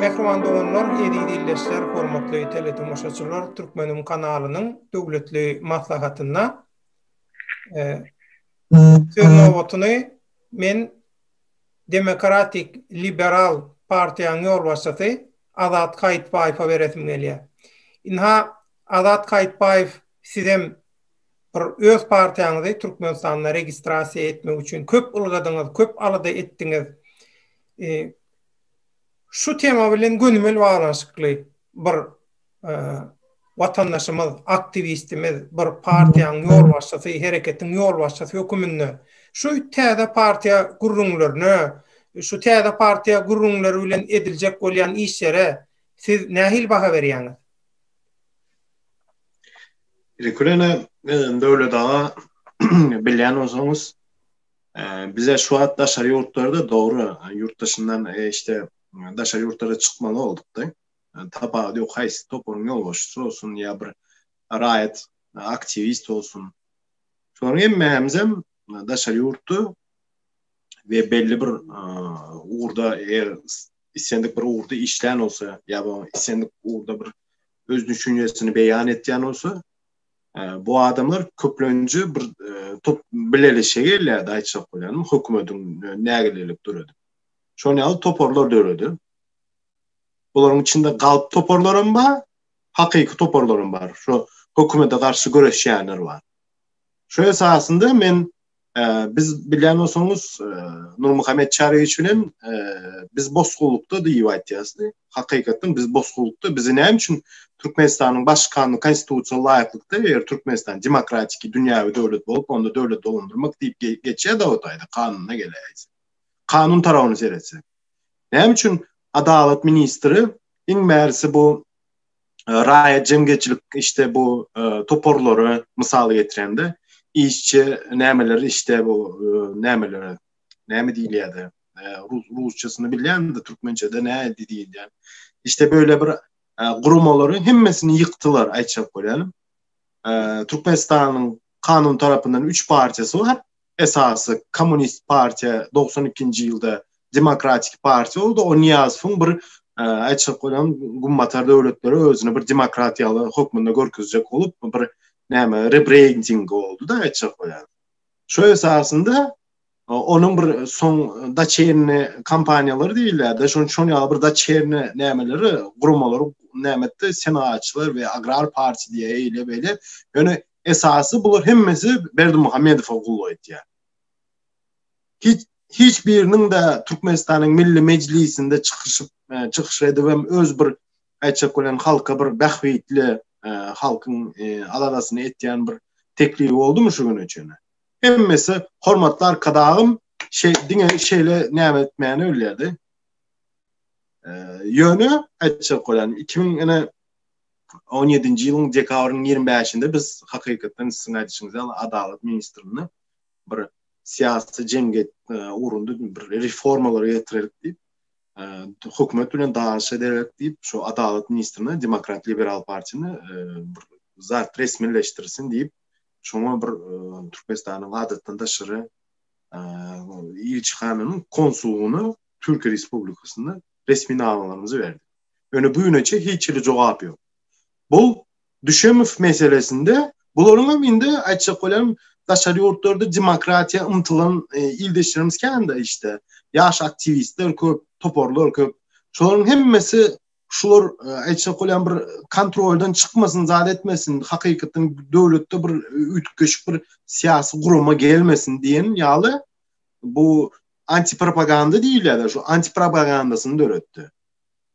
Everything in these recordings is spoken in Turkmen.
Mähriban doganlar, eziz ildeşler, hormatly teletomaşaçylar, Türkmenim kanalynyň döwletli maslahatynda söz nobatyny men Demokratik liberal partiýanyň ýolbaşçysy Azat Kaýytbaýewe beresim gelýär. Ynha, Azat Kaýytbaýew sizem bir öz partiýaňyzy Türkmenistanda registrasiýa etmek üçin köp ylgadyňyz, köp alada etdiňiz. Şu tema bilen gönümel baglanyşykly bir watandaşymyz, aktiwistimiz bir partiýanyň ýolbaşçysy, hereketiň ýolbaşçysy höküminde şu täze partiýa gürrüňlerine, şu täze partiýa gürrüňleri bilen ediljek bolýan işlere siz nähili baha berýäňiz? Ilki bilen, Döwlet aga, bilýän bolsaňyz, bize şu wagt daşary ýurtlarda, dogry, ýurt daşyndan, işte, daşary ýurtlara çykmaly bolduk-da. Tapawudy ýok, haýsy toparyň ýolbaşçysy bolsun ýa bir raýat aktiwist bolsun. Şolaryň hemmämizem daşary ýurtda we belli bir ugurda eger islendik bir ugurda işlän bolsa ýa bu islendik ugurda bir öz düşünjesini beýan etýän bolsa, bu adamlar köplenji bir top bileleşe gelýärdi, aýtjak bolýanym, hökümetiň nägilelik döredip. Şonuň ýaly toparlar döredip, Bularyň içinde galp toparlar hem bar, hakyky toparlar hem bar. Şu hökümete garşy göreşýänler bar. Şu esasynda men e, biz bilýän bolsaňyz e, Nurmuhammet Çaryýewiç bilen e, biz bosgulykda diýip aýtýarys. Hakykatdan biz bosgulykda bizi näme üçin Türkmenistanyň baş kanuny konstitusiýa laýyklykda eger Türkmenistan demokratik dünýäwi döwlet bolup, onda döwlet dolandyrmak diýip geçýär dawet aýda kanuna geleýse. Kanun tarawyny seretse. Näme üçin adalat ministri iň bärisi bu raýat jemgyýetçilik işte bu toparlary mysal getirende işçi nämeleri işte bu nämeleri näme diýilýärdi rusçasyny bilýänmidi türkmençede nädi diýilýär işte böyle bir guramalary hemmesini ýykdylar aýtjak bolýanym türkmenistanyň kanun tarapyndan üç parçasy bar esasy kommunist partiýa dogsan ikinji ýylda demokratik partiýa boldy o niýazowyň bir aýtjak bolan gummatar döwletleri özüni bir demokrat ýaly hökmünde görkezjek bolup bir näme rebrending boldy da aýtjak bolan şu esasynda onuň bir soň daçerni kompaniýalary diýilýärdi şoň şoň ýaly bir daçerni nämeleri guramalary nämetdi senagatçylar we agrar partiýa diýe eýle beýle ýöne esasy bular hemmesi Berdimuhamedowa gulluk etýär. Hiç hiç biriniň de Türkmenistanyň Milli Mejlisinde çykyşyp e, çykyş edip hem öz bir aýtjak bolan halka bir bähbitli e, halkyň e, aladasyny etýän bir teklip boldumy şu güne çenli? Hemmesi hormatly arkadagym şey diňe şeýle näme etmäni bilýärdi. Ýöne aýtjak bolan 2000 ene 2017-nji ýylyň dekabrynyň ýigrimi bäşinde biz hakykatdan siziň aýdyşyňyz ýaly Adalat ministrine bir syýasy jemgyýet ugrunda bir reformalary getirerik diýip, hökümet bilen danyşa derek diýip, şu Adalat ministrine Demokrat Liberal partiýany bir zat resmileşdirsin diýip, şoňa bir Türkmenistanyň adatdan daşary ilçihananyň konsulyna Türkiýe Respublikasynda resminamalary berdik. Ýöne güneçe hiç hili jogap ýok. Bu Düşemow meselesinde bularyň hem indi aýtjak bolýan daşary ýurtlarda demokratiýa ymtylan e, ildeşlerimiz kände işte. Ýaş aktiwistler köp, toparlar köp. Şolaryň hemmesi şular e, aýtjak bolýan bir kontroldan çykmasyn, zat etmesin, hakykatdan döwletde bir üýtgeşik bir syýasy gurama gelmesin diýen ýaly bu antipropaganda diýilýär, şu antipropagandasyny döretdi.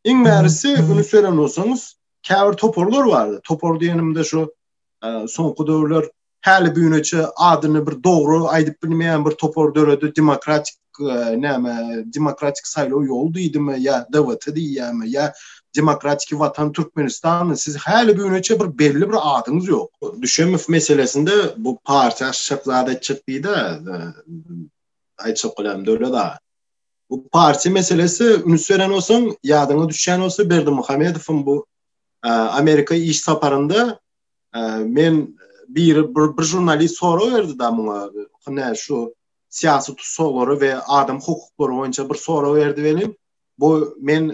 Iň märisi üns beren bolsaňyz, käbir toparlar bar. Topar diýenimde şu e, soňky döwürler häli güneçe adyny bir dogry aýdyp bilmeýän bir topar döredi, demokratik e, näme, demokratik saýlaw ýol diýdimi ýa DWT diýýärmi ýa demokratik watan Türkmenistan siz häli güneçe bir belli bir adyňyz ýok. Düşemow meselesinde bu partiýa aşşak zat etjek diýdi. E, aýtjak bolam döwlet aga. Bu partiýa meselesi üns beren bolsaň, ýadyňa düşýän bolsa Berdimuhamedowyň bu Amerika iş saparynda men bir bir žurnalist sorag berdi da muňa. Hünä şu syýasy tussaglary we adam hukuklary boýunça bir sorag berdi welin, bu men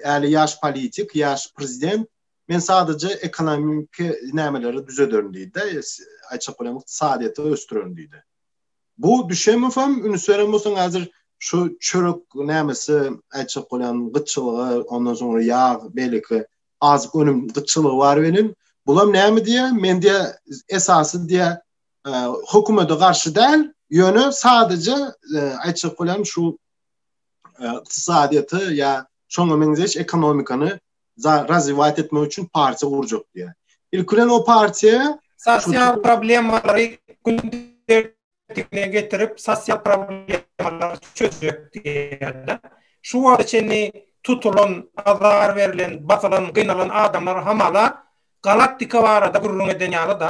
äli e, ýaş politik, ýaş prezident, men sadece ekonomiki nämeleri düzederin diýdi. Aýçak bilen ykdysadyýeti ösdürerin diýdi. Bu düşemofam ünsberem bolsaň hazir şu çörek nämesi aýtjak bolýan gytçylyga ondan soňra ýag beýleki azyk önüm gytçylygy bar welin bulam näme diýä men diýä esasy diýä hökümete garşy däl ýöne sadyja aýtjak bolýan şu ykdysadyýeti ýa şoňa meňzeş ekonomikany razwiýat etmek üçin partiýa gurjak diýýär. Ilki bilen o partiýa sosial problemalary gün tertibine getirip, sosial problemalary çözjek diýýär-de. Şu wagta çenli tutulan, azar berlen, basylan, gynalan adamlar hamala galaktika barada gürrüň eden ýaly-da.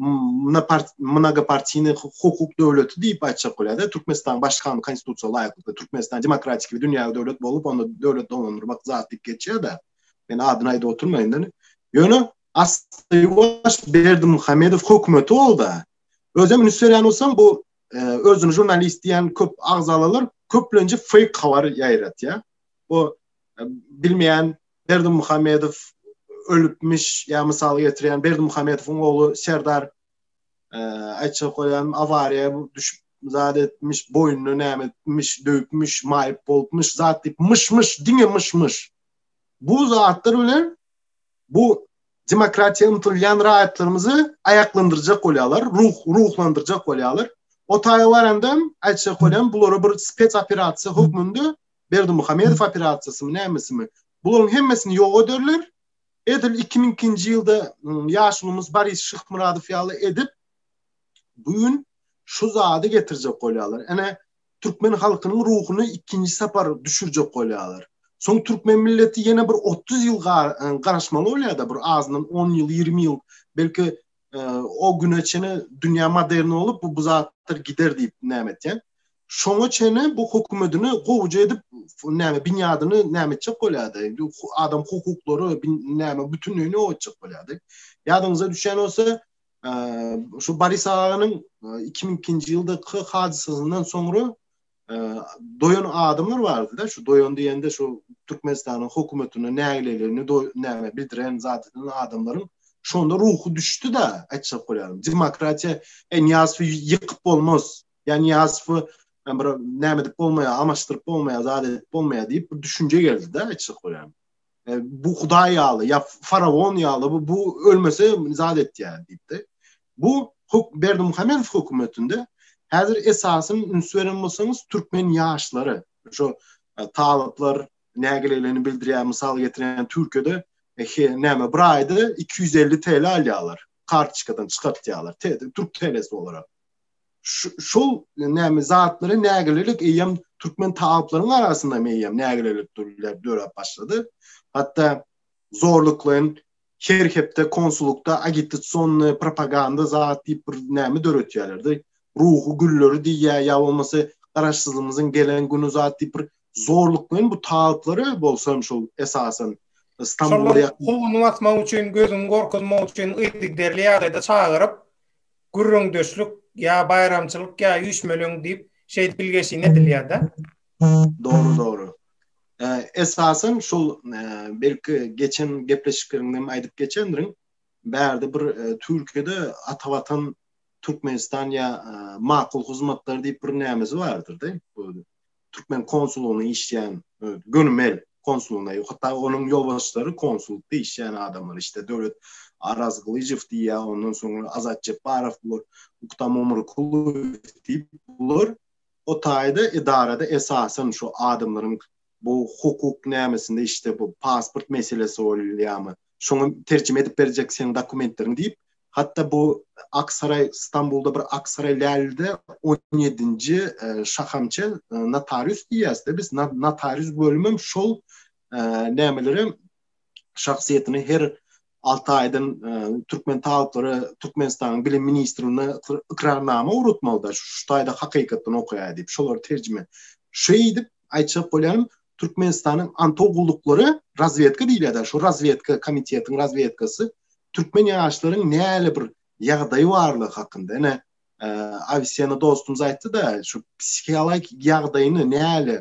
mnogopartini hukuk döwleti diýip aýtjak bolýar-da, Türkmenistanyň başkany konstitusiýa laýyklykda Türkmenistan demokratik we dünýäwi döwlet bolup, onda döwlet dolandyrmak zat diýip geçýär-de, men adyny aýdyp oturmaýyn indi. Ýöne asly ýuwaş Berdimuhamedow hökümeti bolda, özem üns berýän bolsaň bu özüni žurnalist diýen köp agzalalar köplenje feýk habar ýaýratýar. Bu bilmeýän Berdimuhamedow ölüpmiş, ýa mysal getirýän Berdimuhamedowyň ogly Serdar aýtjak bolýan awariýa düşüp zat etmiş, boýnuna näme etmiş, döwüpmiş, maýyp bolupmyş, zat diýip myş-myş, diňe myş-myş. Bu zatlar bilen bu demokratiýa ymtylýan raýatlarymyzy aýaklandyrjak bolýarlar, ruh ruhlandyrjak bolýarlar. O taýa baranda aýtjak bolýan bulara bir spes operasiýa hökmünde Berdimuhamedow operasiýasymy nämesimi bularyň hemmesini ýok ederler edil iki müň ikinji ýylda ýaşulymyz Boris Şyhmyradow ýaly edip bu gün şu zady getirjek bolýarlar ene türkmen halkynyň ruhuny ikinji sapar düşürjek bolýarlar soň türkmen milleti ýene bir otuz ýyl garaşmaly bolýarda bir azyndan on ýyl ýigrimi ýyl belki o güne çene dünýä modern bolup bu zatlar gider diýip näme etýän Şoňa çenli bu hökümetini gowja edip näme binýadyny näme etjek bolýardy? Adam hukuklary näme bütünleýin ýok etjek bolýardy. Ýadyňyza düşýän bolsa, şu Boris aganyň 2002-nji ýyldaky hadysasyndan soňra doýan adamlar bardy-da, şu doýan diýende şu Türkmenistanyň hökümetine nägileligini näme bildiren zat eden adamlaryň şonda ruhy düşdi-de, aýtjak bolýarym. Demokratiýa Nyýazowy ýykyp bolmaz. Ýa Niýazowy bir näme edip bolmaýar, amaşdyryp bolmaýar, zat edip bolmaýar diýip bir düşünje geldi-de açyk bolýan. E, bu hudaý ýaly, ýa faraon ýaly bu, bu ölmese zat etýär diýipdi. Bu huk Berdi Muhammedow hökümetinde häzir esasyny üns beren bolsaňyz türkmen ýaşlary, şu e, talyplar nägileligini bildirýär, mysal getiren Türkiýede e, näme bir aýda 250 TL alýarlar, kartoçkadan çykartýarlar, türk TL'si olarak. şol näme zatlara nägilelik eýem türkmen taýplaryň arasynda meýem nägilelik durýar döräp başlady. Hatda zorluklaýyn her hepde konsullukda agitasionny propaganda zat diýip bir näme döretýärlerdi. Ruhy gülleri diýýä ýa bolmasa garaşsyzlygymyzyň gelen güni zat diýip bir zorluklaýyn bu taýplary bolsam şol esasan Stambula ýakyn. Howuny basmak üçin, gözüňi gorkuzmak üçin yzygiderli ýagdaýda çagyryp, Gürrüňdeşlik ýa baýramçylyk ýa üýşmeleň diýip şeýdip bilgeşine edilýärda. Dogry dogry. Esasan şol belki geçen gepleşikleriňde hem aýdyp geçendirin. Bärde bir Türkiýede Ata Watan Türkmenistan ýa Makul hyzmatlar diýip bir nämesi bardyr-da. türkmen konsulygynda işleýän e, gönümel konsuluna ýok. Hatda onuň ýolbaşçylary konsulda işleýän adamlar işte Döwlet Araz Gylyjow diýýä, ondan soňra Azat Jepbarow bular, Uktam Omurkulow diýip bular o taýda edarada esasan şu adamlaryň bu hukuk nämesinde işte bu pasport meselesi bolýarmy? şoňa terjime edip berjek seniň dokumentleriň diýip, hatda bu Aksaraý, Stambulda bir Aksaraý Lälide on ýedinji e, şahamçe e, notarius diýýäs-de biz, notarius bölümem şol e, nämeleri şahsyýetini her alty aýdan e, türkmen talyplary Türkmenistanyň bilim ministrine ykrarnama ugrutmalyda şu taýda hakykatdan okaýar diýip şolar terjime şeýdip aýtjak bolýanym, Türkmenistanyň Antow gulluklary razwedka diýilýär-de, şu razwedka komitetiň razwedkasy türkmen ýaşlaryň näle bir ýagdaýy barlygy hakynda, ine, Awisiýany dostumyz aýtdy-da, şu psihialagik ýagdaýyny näle,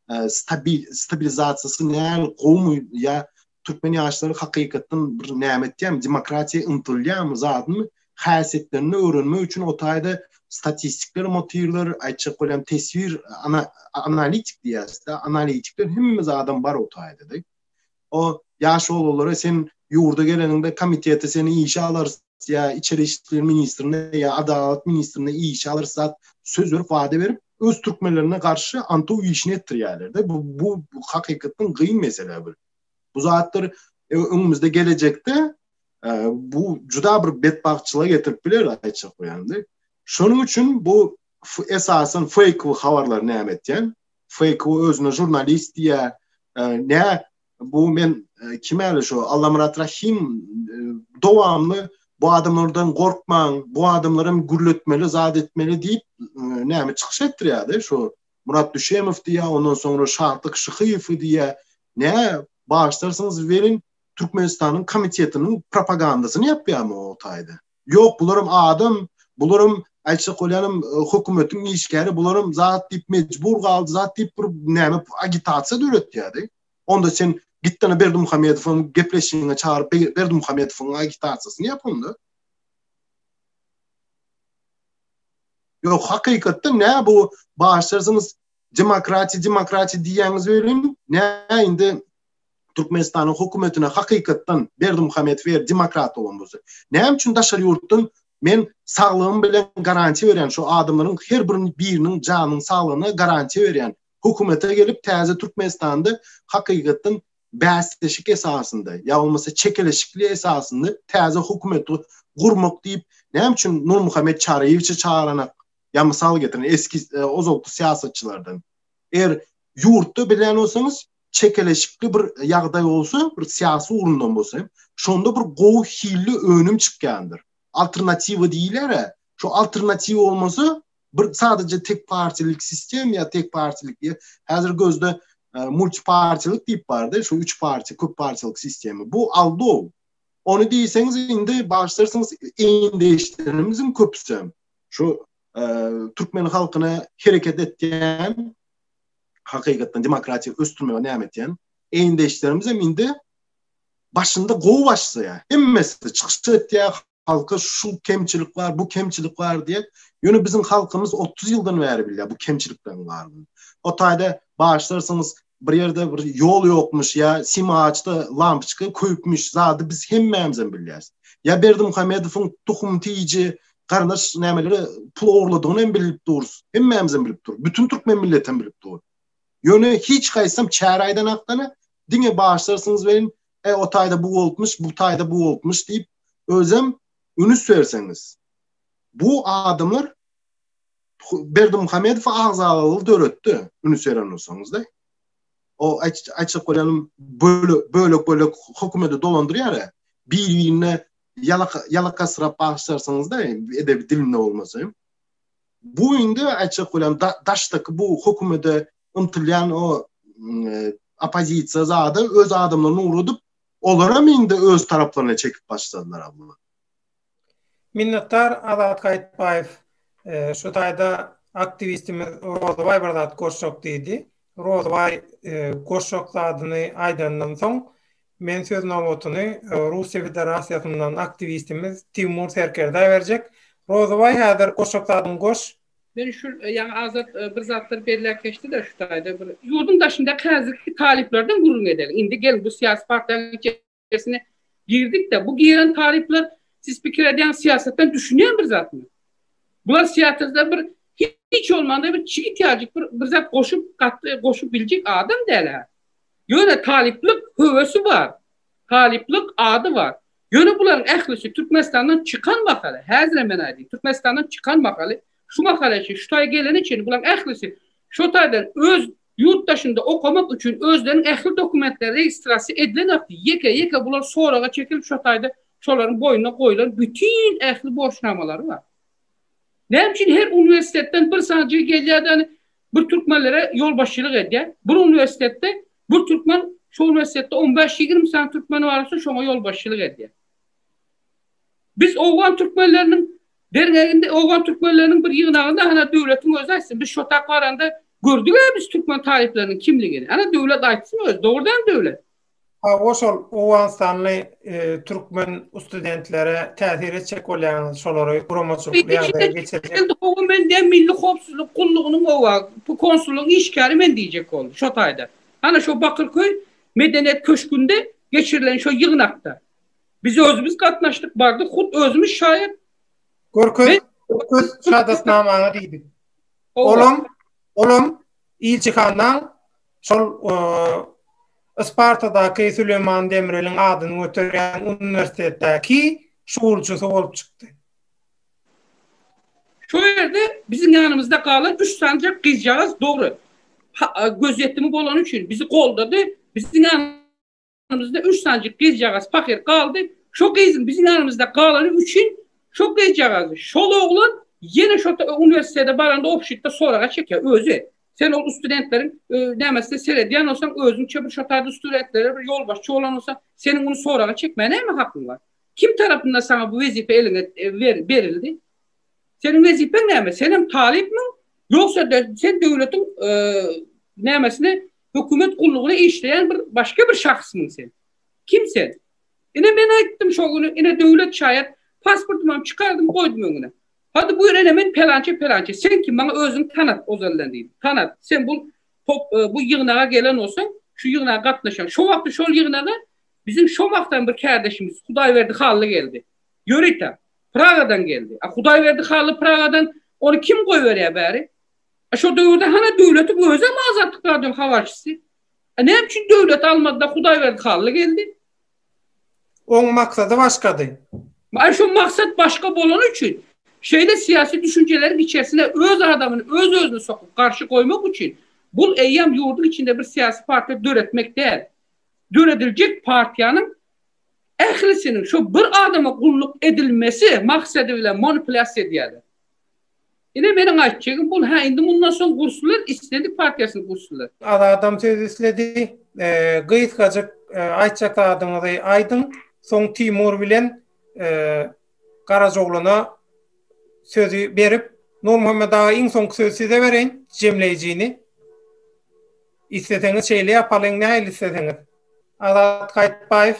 stabilizasiýasy näl gowumy ýa türkmen ýaşlary hakykatdan bir näme etýärmi, demokratiýa ymtylýarmy, zadymy, häsiýetlerini öwrenmek üçin o taýda statistikler motywler, aýtjak bolýan teswir, analitik diýýäs-de, analitikler hemme zadam bar o taýda-da. O ýaş oglanlara sen ýurda geleniňde komitete seni işe alarys ýa içeri işler ministrine ýa adalat ministrine işe alyrsat söz berip wada berip öz türkmenlerine garşy antow işini etdirýärlerde bu bu hakykatdan gyn mesele bir bu zatlar e, öňümizde gelecekde e, bu juda bir betbagtçylyga getirip biler aýtjak bolýandy şonuň üçin bu esasan fake we habarlar näme etýän fake we özüne jurnalist diýä e, nä Bu men e, kimeli şu Allamyrat Rahim e, dowamly bu adamlardan gorkmaň, bu adamlarym gürletmeli, zat etmeli diýip e, näme çykyş etdirýärdi şu Murat Düşemow diýä, ondan soňra Şahtyk Şyhyýew diýä. Ne başlarsyňyz welin Türkmenistanyň komitetiniň propagandasyny ýapýarmy o taýda? Ýok, bularam adam, bularam, aýtjak bolýanym, hökümetiň işgäri, bularam zat diýip, mejbur galdy zat diýip, bir näme agitasiýa döretýärdi. Onda sen gitdana Berdimuhamedowyň gepleşigiňe çagyryp, Berdimuhamedowyň agitasiýasyny ýap onda. Ýok, hakykatda nä bu başarsyňyz demokratiýa, demokratiýa diýýäňiz welin, nä indi Türkmenistanyň hokumetine hakykatdan Berdimuhamedow eger demokrat bolan bolsa näme üçin daşary ýurtdan men saglygym bilen garantiýa berýän şu adamlaryň her birini biriniň janyň saglygyna garantiýa berýän hokumete gelip täze Türkmenistanda hakykatdan bäsleşik esasynda ýa bolmasa çekeleşikli esasynda täze hokumeti gurmak diýip näme üçin Nurmuhammet Çaryýewiçi çagyranak ýa mysal getirin eski e, ozalky syýasatçylardan eger ýurtda bilýän bolsaňyz çekeleşikli bir ýagdaý bolsa, bir syýasy ugrundan bolsa hem, şonda bir gowy hilli önüm çykýandyr. Alternatiwa diýilere, şu alternatiw bolmasa, bir sadece tek partilik sistem ýa tek partilik diýe, häzir gözde e, multipartilik diýip bardy, şu üç parti, köp partilik sistemi. Bu aldow. Onu diýseňiz indi başlarsyňyz eýindeşlerimiziň köpüsi şu e, türkmen halkyna hereket etýän hakykatdan demokratiýa ösdürmege näme etýän? Eýindeşlerimiz hem indi başynda gowy başlaýar. Hemmesi çykyş etýär, halka şu kemçilik bar, bu kemçilik bar diýip, ýöne biziň halkymyz 30 ýyldan bäri bilýär bu kemçilikleriň bardygyny. O taýda başlarsyňyz bir ýerde bir ýol ýokmuş ýa simaçda lampoçka köýüpmiş zady biz hemmämiz hem bilýäris. Ýa Berdi Muhammedowyň tuhum tiýiji Garyndaş nämelere pul ogurladygyny hem bilip durus. Hemmämiz hem bilip dur. Bütün türkmen milleti hem bilip dur. Ýöne hiç gaýsam çär aýdan akdana diňe başlarsyňyz welin e o taýda bu bolupmyş, bu taýda bu bolupmyş diýip özem ünüs berseňiz. Bu adamlar Berdi Muhammedow agzalalygy döretdi. Ünüs beren bolsaňyzda. O açyk bolanyň bölek bölek hökümeti dolandyrýar. Bir-birine Ýalaka, ýalakasyrap bagyşlarsyňyz-da, edebi dilinde bolmasa hem. Bu indi aýtjak bolýan daşdaky bu hökümede ymtylýan o oppozisiýa zada öz adamlaryny ugradyp, olaram indi öz taraplaryna çekip başladylar-a bular. Minnetdar Azat Gaýytbaýew. Şu taýda aktiwistimiz Rozybaý bir zat goşjak diýdi. Rozybaý goşjak zadyny aýdandan soň, Men söz nobatyny Russiýa Federasiýasyndan aktiwistimiz Timur Serkerdä berjek. Rozybaý häzir goşjak zadyňy goş. Men şu ýaňy Azat bir zatlar belläp geçdi-de şu taýda bir. Ýurduň daşyndaky häzirki talyplardan gürrüň edeliň. Indi geliň bu syýasy partiýanyň içerisine girdik-de, bu giren talyplar siz pikir edýän syýasatdan düşünýän bir zatmy? Bular syýasata bir hiç bolmanda bir çigit ýajyk bir zat goşup, gatly goşup biljek adam däl-ä. Ýöne talyplyk höwesi bar, talyplyk ady bar. Ýöne bularyň ählisi Türkmenistandan çykan mahaly, häzirem men aýdaýyn, Türkmenistandan çykan mahaly, şu mahala çenli, şu taýa gelene çenli bularyň ählisi şo taýdan öz ýurt daşynda okamak üçin özleriniň ähli dokumentleri registrasiýa edilenokdy. Ýeke-ýeke bular soraga çekilip şo taýda şolaryň boýnuna goýlan bütin ähli borçnamalary bar. Näme üçin her uniwersitetden bir sany jigim gelýär-de, Bir türkmenlere ýolbaşçylyk edýär. Bir uniwersitetde bir türkmen şo uniwersitetde on bäş, ýigrimi sany türkmeni bar bolsa şoňa ýolbaşçylyk edýär. Biz owgan türkmenleriniň derňeginde owgan türkmenleriniň bir ýygnagynda hana döwletiň özi aýtsyn biz şotak baranda gördük-ä biz türkmen talyplarynyň kimligini. Hana döwlet aýtsyn özi dogrudanam döwlet. Hawa şol owganystanly türkmen ustudentlere täsir etjek bolýaňyz şolary guramaçylyk ýagdaýa geçirjek. Hawa mende milli howpsuzlyk gullugynyň hawa bu konsullygyň işgäri men diýjek ol şo taýda. Hana şo bakyrköý medeniýet köşgünde geçirilen şo ýygnakda biz özümiz gatnaşdyk bardyk hut özümiz şaýat. Görkez görkez şadatnamaňy diýdik. Olam olam ilçihandan şol Ispartadaky Süleýman Demireliň adyny göterýän uniwersitetdäki şuwulçysy bolup çykdy. Şo ýerde biziň ýanymyzda galan üç sanjak gyzjagaz dogry, gözýetimi bolany üçin bizi goldady, biziň Ýanymyzda üç sanjyk gyzjagaz pahyr galdy. Şo gyzyň biziň ýanymyzda galany üçin şo gyzjagazy, şol oglan ýene şo uniwersitete baranda obşitde soraga çekýär. Özi, sen ol ustudentleriň nämesine seredýän bolsaň, özüňçe bir şo taýda ustudentlere bir ýolbaşçy bolan bolsaň, seniň muny soraga çekmäge näme hakyň bar? Kim tarapyndan saňa bu wezipe eliňe berildi? Seniň wezipeň näme? Senem talypmyň? Ýogsa-da sen döwletiň nämesine Hökümet gullugyna işleýän bir başga bir şahsmy sen? Kim sen? Ine men aýtdym şo güni, ine döwlet şaýat, pasportymam çykardym goýdum öňüne. Hady buýr ine men pelançy pelançy, sen kim maňa özüňi tanat ozaldan diýdim. Tanat, sen bul top bu ýygnaga gelen bolsaň, şu ýygnaga gatnaşan. Şo wagty şol ýygnaga biziň şo wagtam bir kärdeşimiz Hudaýberdi Hally geldi. Ýörite, Pragadan geldi. A Hudaýberdi Hally Pragadan ony kim goýberýär bäri? Şo döwürde hany döwletiň özem Azatlyk radionyň habarçysy? Näme üçin döwleti almady-da Hudaýberdi Hally geldi? Oň maksady başgady. Aý şo maksat başga bolany üçin, şeýle syýasy düşünjeleriň içersine öz adamyny öz-özüni sokup garşy goýmak üçin, bul eýýam ýurduň içinde bir syýasy partiýa döretmek däl. Dörediljek partiýanyň ählisiniň şo bir adama gulluk edilmesi maksady bilen manipulýasiýa edýärler. Ine meniň aýtjagym bul hä indi mundan soň gurslar isledik partiýasyny gurslar. Azadam söz isledi. Gysgajyk aýtjak zadyňyzy aýdyň soň Timur bilen Garajoglana sözi berip Nurmuhammet aga iň soňky sözi size bereýin jemleýjini. Isleseňiz şeýle ýapalyň nähili isleseňiz. Azat Gaýytbaýew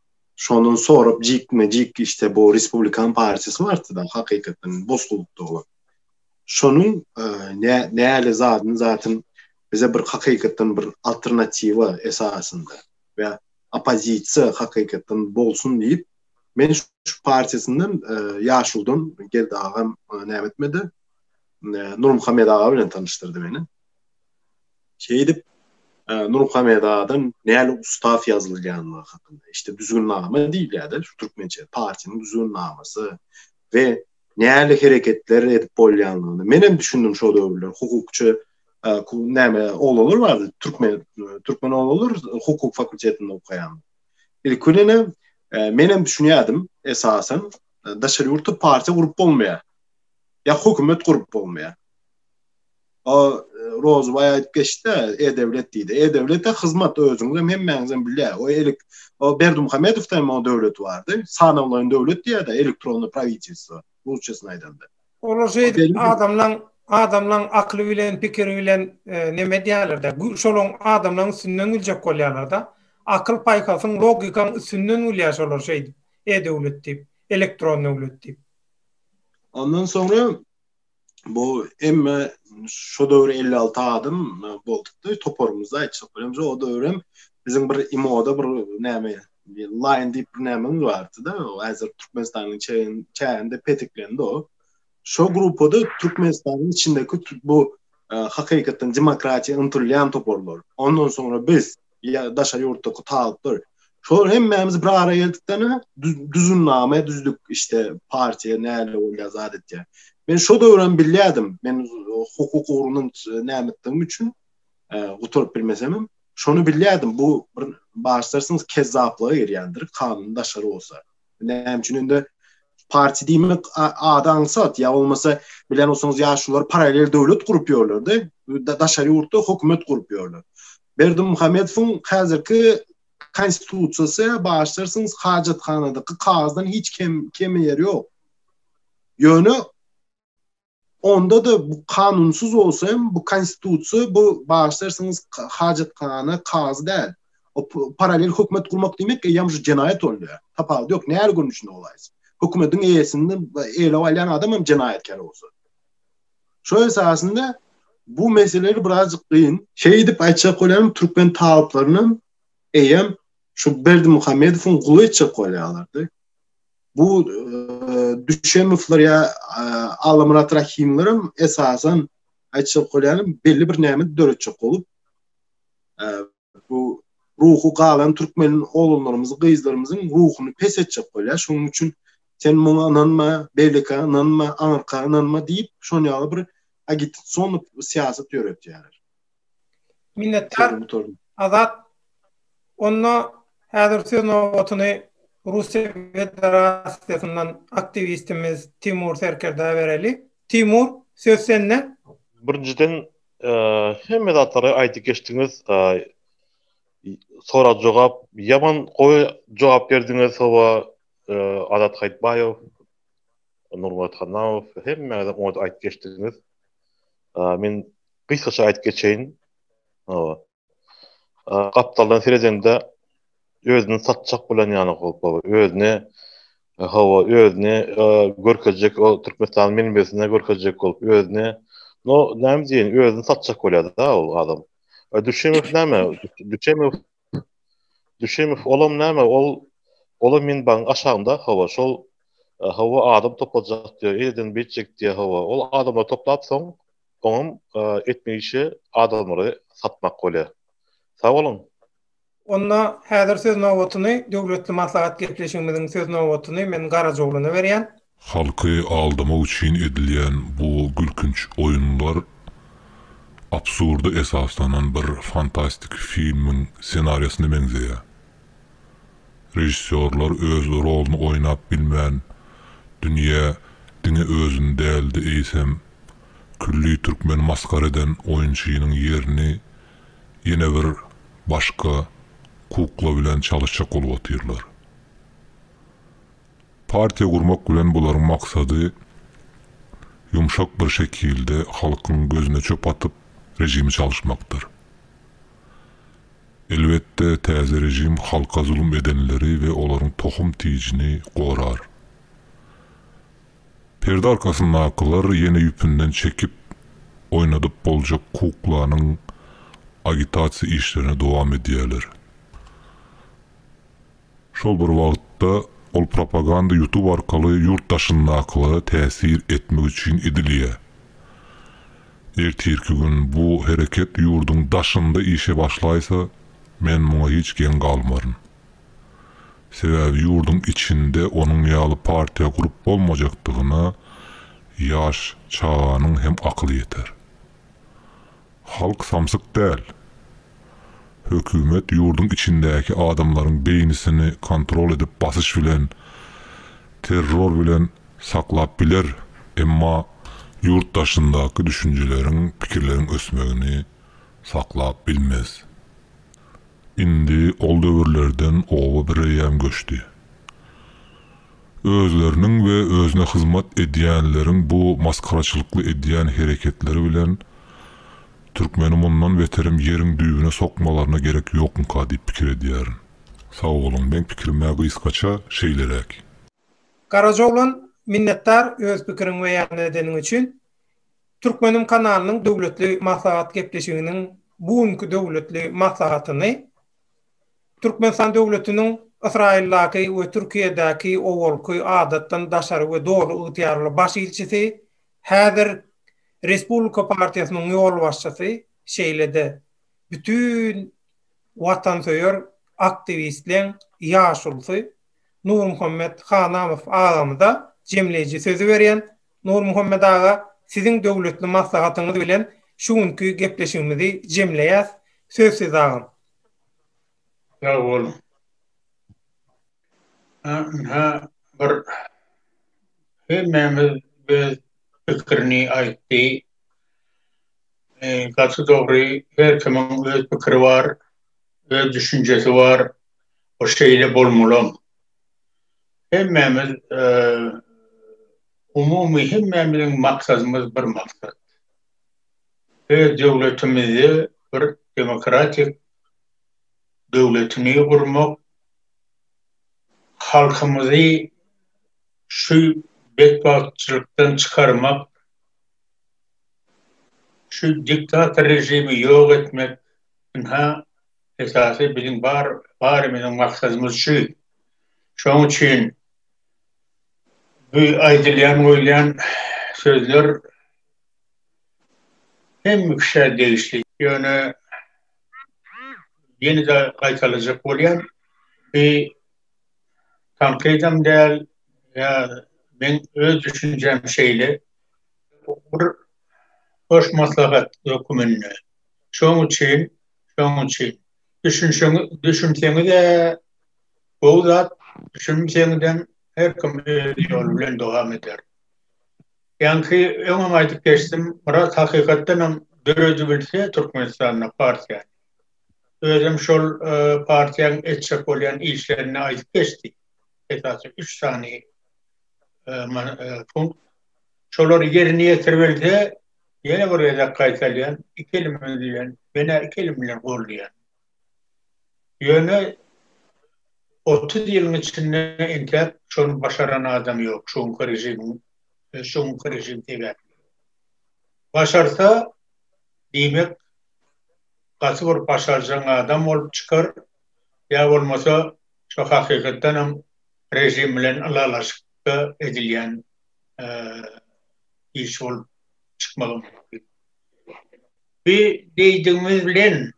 Şondan sorap jikme jik işte bu Respublikan partiyasy bardy da hakykatdan bozgulukda bolan. Şonuň e, ne näle zadyn zatyn bize bir hakykatdan bir alternatiwa esasynda we oppozisiýa hakykatdan bolsun diýip men şu partiyasyndan e, ýaşuldan geldi agam e, näme etmedi. E, Nurmuhammed aga bilen tanıştyrdy meni. Şeýdip, Nurmuhammet adam näle ustaz ýazylýandygy hakynda, işte düzgünnama diýilýär-de, şu türkmençe partiýanyň düzgünnamasy we näle hereketler edip bolýandygyny men hem düşündim şo döwürler hukukçy näme oglanlar bardy, türkmen türkmen oglanlar hukuk fakultetinde okaýan. Ilki bilen men hem düşünýärdim esasan daşary ýurtda partiýa gurup bolmaýar. Ýa hökümet gurup bolmaýar. O Rozubaý aýdyp geçdi, E-döwlet diýdi. E-döwlete hyzmat özüňiz hem hemmäňiz hem bilýä. O elik o Berdimuhamedowda hem o döwlet bardy. Sanawlaýyn döwlet diýýärdi, elektronny prawitelstwo, rusçasyny aýdanda. Olar şeýdip adamlaň adamlaň akyly bilen, pikiri bilen neme edýärler-de, şolaň adamlaň üstünden güljek bolýarlar-da. Akyl-paýhasyň, logikaň üstünden gülýär şolar şeýdip, E-döwlet diýip, elektron döwlet diýip. Ondan soňra bu emme şu döwür 56 adam boldukdy toparymyzda aýtsak bilemse o döwürem biziň bir imoda bir näme line diýip bir näme bardy da häzir türkmenistanyň çäginde petiklendi o şu gruppada türkmenistanyň içindeki bu e, hakykatdan demokratiýa ymtylýan toparlar ondan soňra biz ýa daşary ýurtdaky talyplar. Şolar hemmämiz bir ara geldikden düzümname düzdük işte partiýa näle bolýar zat etýär. Men şo döwrem bilýärdim. Men hukuk ugrundan nämetdigim üçin e, gutaryp bilmesem hem şony bilýärdim. Bu bir başlarsyňyz kezzaplyga girýändir, kanun daşary bolsa. Näme üçin indi parti diýmek ady aňsat ýa bolmasa bilen bolsaňyz ýaşular paralel döwlet gurup ýörlerde daşary ýurtda hökümet gurup ýörler. Berdi Muhammedowyň häzirki konstitusiýasy başlarsyňyz hajathanadaky kagyzdan hiç kem kemi ýeri ýok. Ýöne Onda-da bu kanunsyz bolsa hem bu konstitusiýa bu bagyşlarsyňyz hajathana kazy däl. O paralel hökümet gurmak diýmek eýýäm şu jenaýat bolýar. Tapawudy ýok näre görnüşinde bolaýsa. Hökümetiň eýesini eýlap alýan adam hem jenaýatkär bolsa. Şo esasynda bu meseleler birazjyk gyn. Şeýdip aýtjak bolýarym türkmen talyplaryny eýýäm şu Berdimuhamedowyň guly etjek bolýarlardy. Bu Düşemowlar ýa Allamyrat Rahimler hem esasan aýtjak bolýanym belli bir näme döretjek bolup bu ruhu galan türkmen oglanlarymyzy, gyzlarymyzyň ruhuny pes etjek bolýar. Şonuň üçin sen muňa ynanma, beýleki ynanma, aňyrka ynanma diýip, şonuň ýaly bir agitasion syýasat ýöretýärler. Minnetdar. Azat. Onda häzir söz nobatyny Russiýa Federasiýasyndan aktiwistimiz Timur Serkerdä bereli. Timur, söz sende. Birinjiden, hemme zatlary aýdyp geçdiňiz. Sorag-jogap, ýaman gowy jogap berdiňiz. Hawa, Azat Haýytbaýew, Nurmyrat Hannamow, hemmäňiz oňat aýdyp geçdiňiz. Men gysgaça aýdyp geçeýin. Gapdaldan seredende özüni satjak bolan ýaly gopa, özüni hawa, özüni görkezjek, o Türkmenistanyň menbesine görkezjek bolup, özüni no, näme diýen, özüni satjak bolýar-da ol adam. Düşemow näme? Düşemow Düşemow, olam näme, ol, olam minbagyň aşagynda, hawa, şol, hawa, adam topajak diýýär, eýleden beýtjek diýýär, hawa, ol adamlary toplap soň, oňam etmeli işi adamlary satmak bolýar. Sag boluň! Onda häzir söz nobatyny, döwletli maslahat gepleşigimiziň söz nobatyny men Garajaoglana berýän. Halky aldamak üçin edilýän bu gülkünç oýunlar absurda esaslanan bir fantastik filmiň ssenariýasyna meňzeýär. Režissýorlar öz roluny oýnap bilmän, dünýä diňe özüni däl-de eýsem, külli türkmeni masgara eden oýunçynyň ýerini ýene bir başga kukla bilen çalyşjak bolup otyrlar. Partiýa gurmak bilen bularyň maksady ýumşak bir şekilde halkyň gözüne çöp atyp režimi çalyşmakdyr. Elbetde täze režim halka zulum edenleri we olaryň tohum tijini gorar. Perde arkasyndakylar ýene ýüpünden çekip oýnadyp boljak kuklanyň agitasiýa işlerini dowam edýärler. Şol bir wagtda, ol propaganda YouTube arkaly ýurt daşyndakylara täsir etmek üçin edilýär. Ertirki gün bu hereket ýurduň daşynda işe başlaýsa, men muňa hiç geň galmaryn. Sebäbi ýurduň içinde onuň ýaly partiýa gurup bolmajakdygyna ýaş çaganyň hem akyly ýeter. Halk samsyk däl. Hökümet ýurduň içindäki adamlaryň beýnisini kontrol edip basyş bilen, terror bilen saklap biler, emma ýurt daşyndaky düşünjeleriň, pikirleriň ösmegini saklap bilmez. Indi ol döwürlerden oba bireýýäm göçdi. Özleriniň we özüne hyzmat edýänleriň bu masgaraçylykly edýän hereketleri bilen türkmeni mundan beterem ýeriň düýbüne sokmalaryna gerek ýokmyka diýip pikir edýärin. Sag boluň, meň pikirimä gysgaça şeýleräk. Garaja oglan, minnetdar öz pikiriňi beýan edeniň üçin. Türkmenim kanalynyň döwletli maslahat gepleşiginiň bu günki döwletli maslahatyny Türkmenistan döwletiniň Ysraýyldaky we Türkiýedäki owalky adatdan daşary we doly ygtyýarly baş ilçisi, häzir Respublika partiýasynyň ýolbaşçysy, şeýle-de bütin watansöýer aktiwistleň ýaşulusy Nurmuhammet Hanamow agamyza jemleýji sözi berýän Nurmuhammet aga, siziň döwletli maslahatyňyz bilen şu günki gepleşigimizi jemleýäs. Söz sizde agam. Sag boluň. Ynha, bir hemmämiz öz pikirini aýtdy. Gaty dogry, her kimiň öz pikiri bar, öz düşünjesi bar. Bu şeýle bolmalam. hemmämiz umumy hemmämiziň maksadymyz bir maksat. Öz döwletimizi bir demokratik döwletini gurmak, halkymyzy şu betbagtçylykdan çykarmak, şu diktator režimi ýok etmek, ynha esasy biziň bar barymyzyň maksadymyz şu. Şoň üçin bu aýdylýan goýulýan sözler hemme kişä degişli. Ýöne ýene-de gaýtalajak bolýan bu tankydam däl ýa men öz düşünjäm şeýle bir hoş maslahat höküminde. Şoň üçin şoň üçin düşünşeňiz düşünseňizä. Gowy zat, düşünmseňizem her kim öz ýoly bilen dowam eder. Ýaňky öňem aýdyp geçdim, Myrat hakykatdanam döredibilse Türkmenistanda partiýany, özem şol partiýaň etjek bolýan işlerini aýdyp geçdi, esasy üç sany punkt, şolary ýerine ýetirbilse, ýene bir gezek gaýtalýan, iki elim bilen, menä iki elim bilen goldaýan. Ýöne otuz ýylyň içinde entäk şony başaran adam ýok, şu günki režimiň, şu günki režim sebäpli. Başarsa, diýmek, gaty bir başarjaň adam bolup çykar, ýa bolmasa, şu hakykatdan hem režim bilen ylalaşykda edilýän iş bolup çykmagy mümkin. Bu diýdigimiz bilen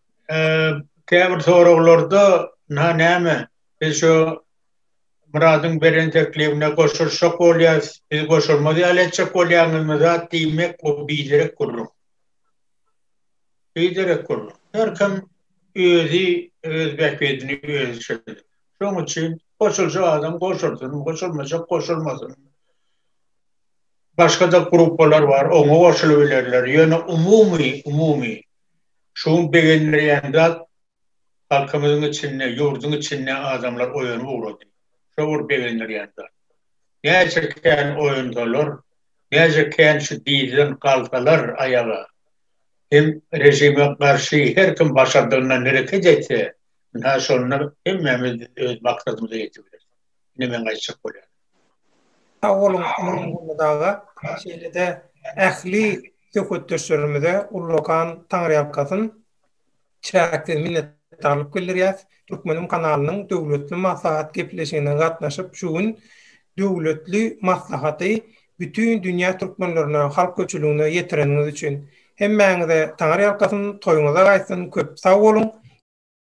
käbir soraglarda na näme biz şu Myradyň beren teklibine goşulyşjak bolýas, biz goşulmaz ýaly etjek bolýaňyzmy zat diýmek bu biderek gürrüň. Biderek gürrüň. Her kim özi öz bähbidini özi çözýär. Şoň üçin goşuljak adam goşulsyn, goşulmajak goşulmasyn. başga-da gruppalar bar, oňa goşulybilerler. Ýöne umumy, umumy, şu gün begendirýän zat, halkymyzyň içinde, ýurduň içinde adamlar oýanyp ugrady. Şo bir begendirýän zat. Näçe kän oýansalar, näçe kän şu dizden galsalar aýaga, hem režime garşy her kim başardygyndan hereket etse, ynha şonda hemmämiz öz maksadymyza ýetibileris. Ine meň aýtjak bolýanym. Sag boluň Magtymguly aga, şeýle-de ähli söhbetdeşlerimize ullakan taňryýalkasyn, çäksiz minnetdarlyk bildirýäs. Türkmenim kanalynyň döwletli maslahat gepleşigine gatnaşyp, şu gün döwletli maslahaty bütin dünýä türkmenlerine, halk köpçüligine ýetireniňiz üçin. Hemmäňize taňryýalkasyn, toýuňyza gaýtsyn, köp sag boluň!